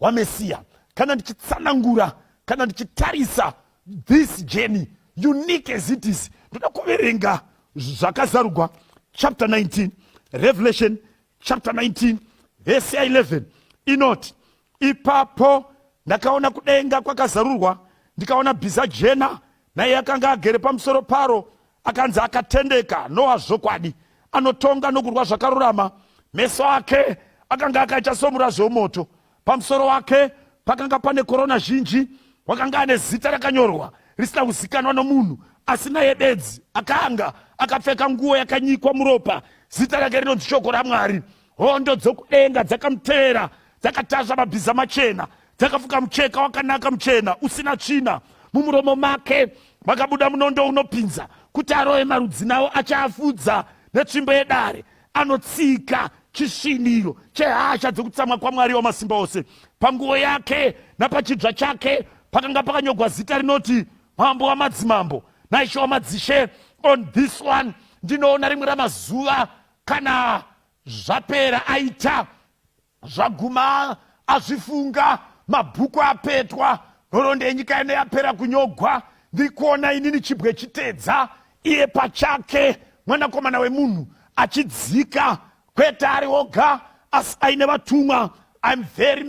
waMesiya, kana ndichitsanangura, kana ndichitarisa this journey unique as it is, ndoda kuverenga zvakazarugwa chapter 19 Revelation chapter 19 verse 11 inoti ipapo ndakaona kudenga kwakazarurwa ndikaona bhiza jena naiye akanga agere pamusoro paro akanzi akatendeka noa zvokwadi anotonga nokurwa zvakarurama meso ake akanga akaita somurazvi womoto pamusoro wake pakanga pane korona zhinji wakanga ane zita rakanyorwa risina kuzikanwa nomunhu asi naye bedzi akanga akapfeka nguo yakanyikwa muropa zita rake rinonzi shoko ramwari hondo dzokudenga dzakamuteera dzakatasva mabhiza machena dzakafuka mucheka wakanaka muchena usina tsvina mumuromo make makabuda munondo unopinza kuti aroye marudzi nawo achaafudza netsvimbo yedare anotsika chisviniro chehasha dzekutsamwa kwamwari wamasimba ose panguo yake napachidzva chake pakanga pakanyogwa zita rinoti mambo wamadzimambo naishe wamadzishe on this one ndinoona rimwe ramazuva kana zvapera aita zvaguma azvifunga mabhuku apetwa nhoroondo yenyika ino yapera kunyogwa ndiri kuona inini chibwe chitedza iye pachake mwanakomana wemunhu achidzika kwete ari oga asi aine vatumwa im very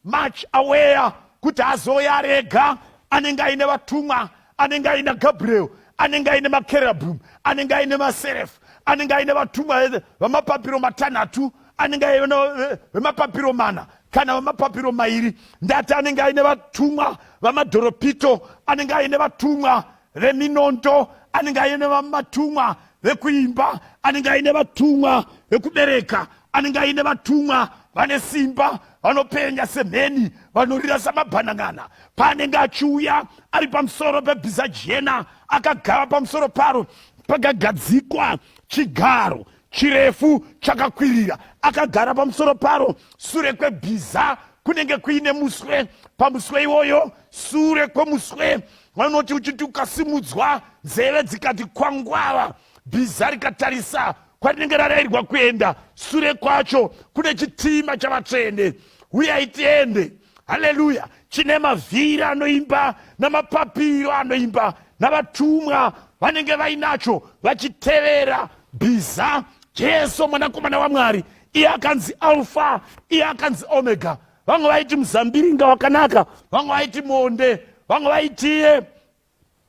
much aware kuti azouya ari ega anenge aine vatumwa anenge aina gabriel anenge aine makerabum anenge aine maserefu anenge aine vatumwa eh, vamapapiro matanhatu anenge aine eh, vemapapiro mana kana vamapapiro mairi ndati anenge aine vatumwa vamadhoropito anenge aine vatumwa veminondo anenge aine vamatumwa vekuimba anenge aine vatumwa vekubereka anenge aine vatumwa vane simba vanopenya semheni vanorira samabhanangana paanenge achiuya ari pamusoro pebhiza jena akagara pamusoro paro pakagadzikwa chigaro chirefu chakakwirira akagara pamusoro paro sure kwebhiza kunenge kuine muswe pamuswe iwoyo sure kwemuswe vanoti uchiti ukasimudzwa nzeve dzikati kwangwava bhiza rikatarisa kwarinenge rarairwa kuenda sure kwacho kune chitima chavatsvene huyai tiende haleluya chine mavhiri anoimba namapapiro anoimba navatumwa vanenge vainacho vachitevera bhiza jesu mwanakomana wamwari iye akanzi alfa iye akanzi omega vamwe vaiti muzambiringa wakanaka vamwe vaiti monde vamwe vaitiye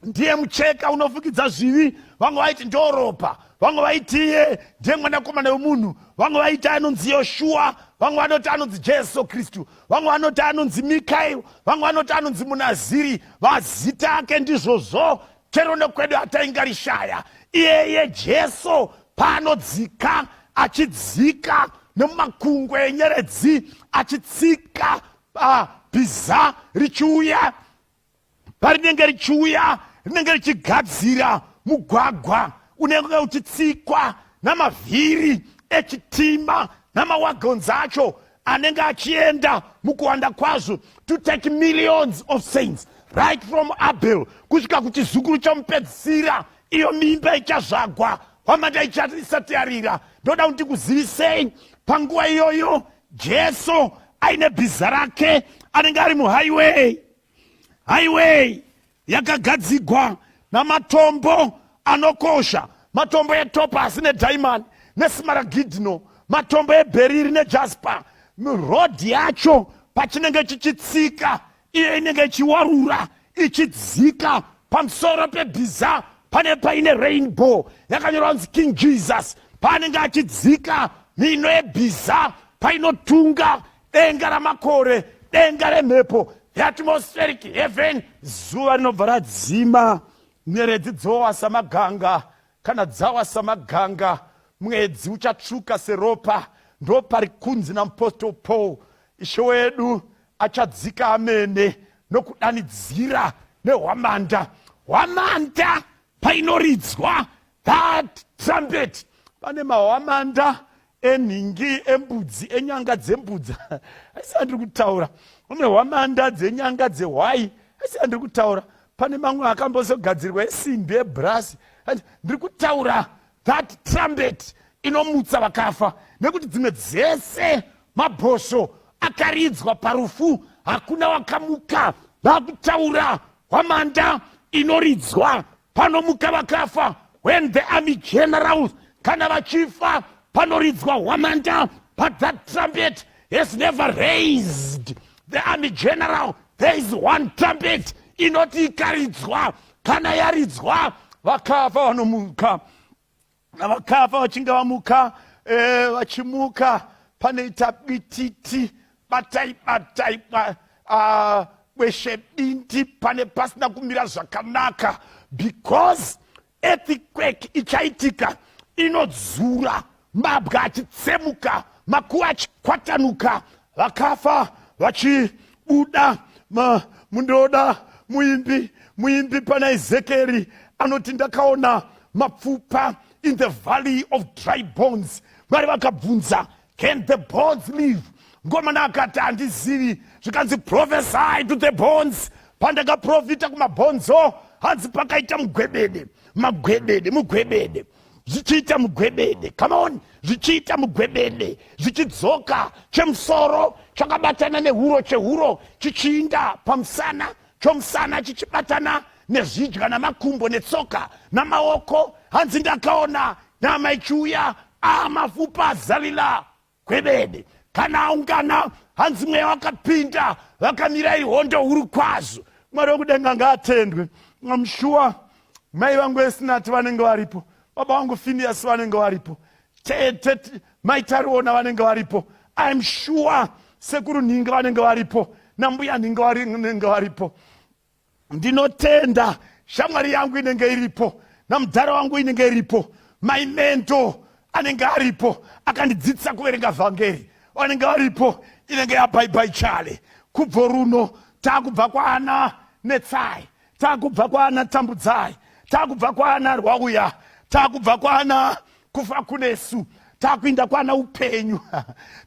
ndiye mucheka unofukidza zvivi vamwe vaiti ndoropa vamwe vaitiye ndiye mwanakomana wemunhu vamwe vaiti anonzi yoshuwa vamwe vanoti anonzi jesu kristu vamwe vanoti anonzi mikaeri vamwe vanoti anonzi munaziri vazita ake ndizvozvo chero nekwedu hataingarishaya iyeye jesu paanodzika achidzika nemumakungwe enyeredzi achitsika ah, bhiza richiuya parinenge richiuya rinenge richigadzira mugwagwa unenge uchitsikwa namavhiri echitima namawagonzi acho anenge achienda mukuwanda kwazvo to take millions of saints right from abel kusvika kuchizukuru chomupedzisira iyo mimba ichazvagwa hwamanda isati yarira ndoda kuti kuzivisei panguva iyoyo jesu aine bhiza rake anenge ari muhighway highway yakagadzigwa namatombo anokosha matombo etopasi nedaimani nesimaragidhino matombo ebheriri nejaspa rodhi yacho pachinenge chichitsika iyo inenge ichiwarura ichidzika pamusoro pebhiza pane paine rainbow yakanyorwa kunzi king jesus paanenge achidzika mino yebhiza painotunga denga ramakore denga remhepo heatmospheric heaven zuva rinobva radzima nyeredzi dzowa samaganga kana dzawa samaganga mwedzi uchatsvuka seropa ndo pari kunzi namupostle paul ishe wedu achadzika amene nokudanidzira nehwamanda hwamanda painoridzwa that trumpet pane mahwamanda enhingi embudzi enyanga dzembudza asi andiri kutaura une hwamanda dzenyanga dzehwai asi andiri kutaura pane mamwe akambozogadzirwa esimbi ebrasi ndiri kutaura that trumpet inomutsa vakafa nekuti dzimwe dzese mabhosvo akaridzwa parufu hakuna wakamuka vakutaura hwamanda inoridzwa panomuka vakafa when the army generals kana vachifa panoridzwa hwamanda but that trumpet has never raised the army general there is one trumpet inoti ikaridzwa kana yaridzwa vakafa vanomuka navakafa vachinge vamuka eh, vachimuka panoita bititi batai batai ba, uh, kweshe bindi pane pasina kumira zvakanaka because earthquake ichaitika inodzura mabwa achitsemuka makuva achikwatanuka vakafa vachibuda mundoda muimbi muimbi pana ezekeri anoti ndakaona mapfupa in the valley of dry bones mwari vakabvunza can the bones live ngomana akati handizivi zvikanzi prophesy to the bones pandakaprofita kumabhonzo hanzi pakaita mugwebede magwebede mugwebede zvichiita mugwebede come on zvichiita mugwebede zvichidzoka chemusoro chakabatana nehuro chehuro chichiinda pamusana chomusana chichibatana nezvidya namakumbo netsoka namaoko hanzi ndakaona nyama ichiuya a ah, mafupa zalila kwebede kana aungana hanzi mweya wakapinda vakamira ihondo huru kwazvo mwari wekudenga ngaatendwe amshuwa mai vangu esinati vanenge varipo baba vangu finias vanenge varipo tete mai tariona vanenge varipo im shuwa sekuru nhinga vanenge varipo nambuya nhinga vanenge varipo ndinotenda shamwari yangu inenge iripo namudhara wangu inenge iripo my mentor anenge aripo akandidzidzisa kuverenga vhangeri vanenge varipo inenge yabhaibai chale kubvo runo taakubva kwaana netsai taakubva kwaana tambudzai taakubva kwaana rwauya taakubva kwaana kufa kunesu takuinda kwana upenyu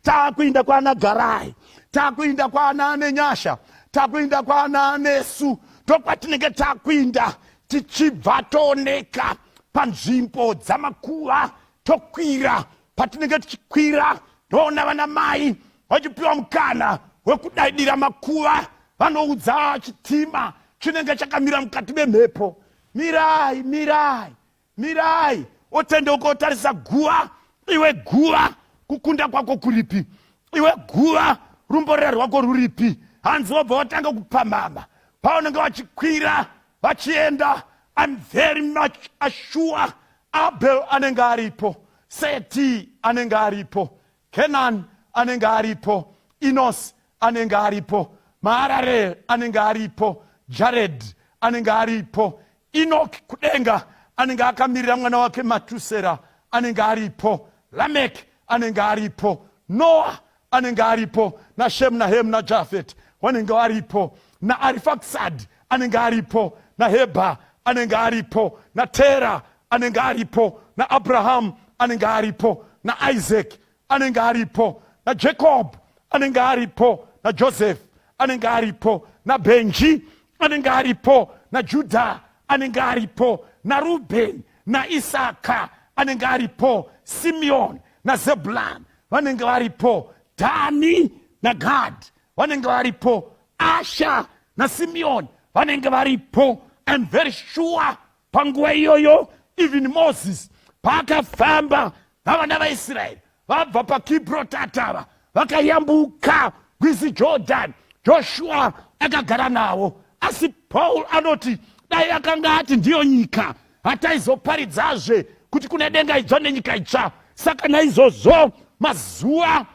takuinda kwana garai takuinda kwana anenyasha takuinda kwana anesu ndokwatinenge takuinda tichibva tooneka panzvimbo dzamakuva tokwira patinenge tichikwira ndoona vana mai vachipiwa mukana wekudaidira makuva vanoudza chitima chinenge chakamira mukati memhepo mirai mirai Mirai, otendeuka otarisa guva. Iwe guva, kukunda kwako kuripi? Iwe guva, rumborera rwako ruripi? Hanzi wobva watanga kupamhama paunenge vachikwira vachienda. I'm very much assured Abel anenge aripo, Seti anenge aripo, Canaan anenge aripo, Enos anenge aripo, Mahararel anenge aripo, Jared anenge aripo, Enoch kudenga anenge akamirira mwana wake Matusera anenge aripo, Lamek anenge aripo, Noah anenge aripo, naShem naHem naJafet wanenge aripo, naArifaksad anenge aripo, naHebha anenge aripo, naTera anenge aripo naabrahamu anenge aripo naisaki anenge aripo najacob anenge aripo najoseph anenge aripo nabenji anenge aripo najudha anenge aripo narubheni naisaka anenge aripo simeoni nazebulani vanenge varipo dhani nagadhi vanenge varipo asha nasimeoni vanenge varipo iam very sure Panguva iyoyo even Moses paakafamba navana vaIsraeri vabva paKibrotatava vakayambuka rwizi Jordan, Joshua akagara navo. Asi Paul anoti dai akanga ati ndiyo nyika hataizoparidzazve kuti kune denga idzva nenyika itsva. Saka naizvozvo mazuva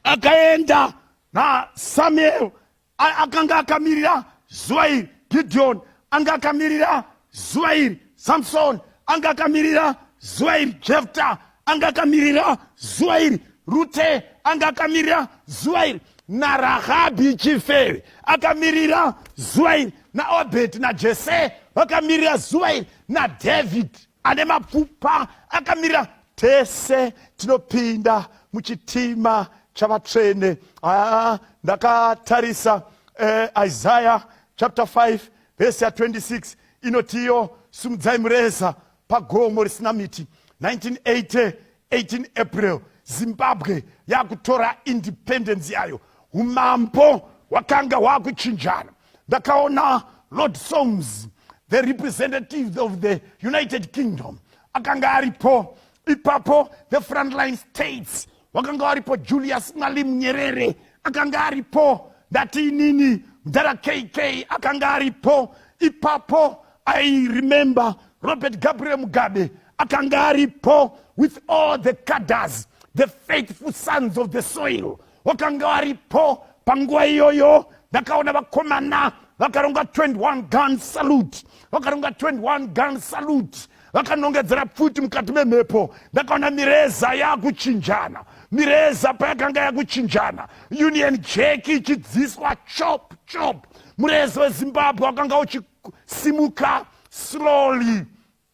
akaenda nasamueri akanga akamirira zuva iri gidhiyoni anga akamirira zuva iri samsoni anga akamirira zuva iri jefta anga akamirira zuva iri rute anga akamirira zuva iri narahabhi chifeve akamirira zuva iri naobheti najese vakamirira zuva iri nadhavhidhi ane mapfupa akamirira tese tinopinda muchitima chavatsvene aa ndakatarisa eh, isaya chapter 5 vhesi ya 26 inotiyo simudzai mureza pagomo risina miti 1980 18 april zimbabwe yakutora independence yayo umambo hwakanga hwakuchinjana ndakaona lord somes the representative of the united kingdom akanga aripo ipapo the frontline states wakanga waripo julius mali munyerere akanga aripo ndati inini mdhara kk akanga aripo ipapo i remember robert gabriel mugabe akanga aripo with all the caders the faithful sons of the soil wakanga waripo panguva iyoyo ndakaona vakomana vakaronga 21 gun salute vakaronga 21 gun salute vakanongedzera pfuti mukati memhepo ndakaona mireza yakuchinjana mireza payakanga yakuchinjana union jack ichidziswa chop chop mureza wezimbabwe wakanga uchisimuka slowly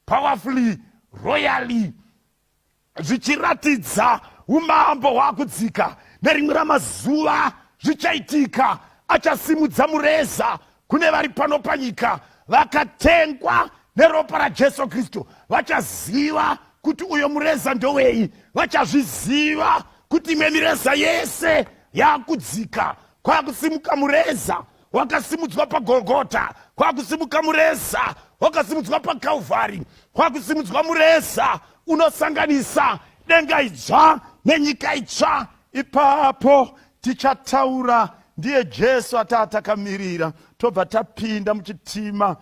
powerfully royally zvichiratidza umambo hwakudzika nerimwe ramazuva zvichaitika achasimudza mureza kune vari pano panyika vakatengwa neropa rajesu kristu vachaziva kuti uyo mureza ndowei vachazviziva kuti imwe mireza yese yakudzika kwakusimuka mureza wakasimudzwa pagolgota kwakusimuka mureza wakasimudzwa pakalvari kwakusimudzwa mureza unosanganisa denga idzva nenyika itsva ipapo tichataura ndiye jesu ataa takamirira tobva tapinda muchitima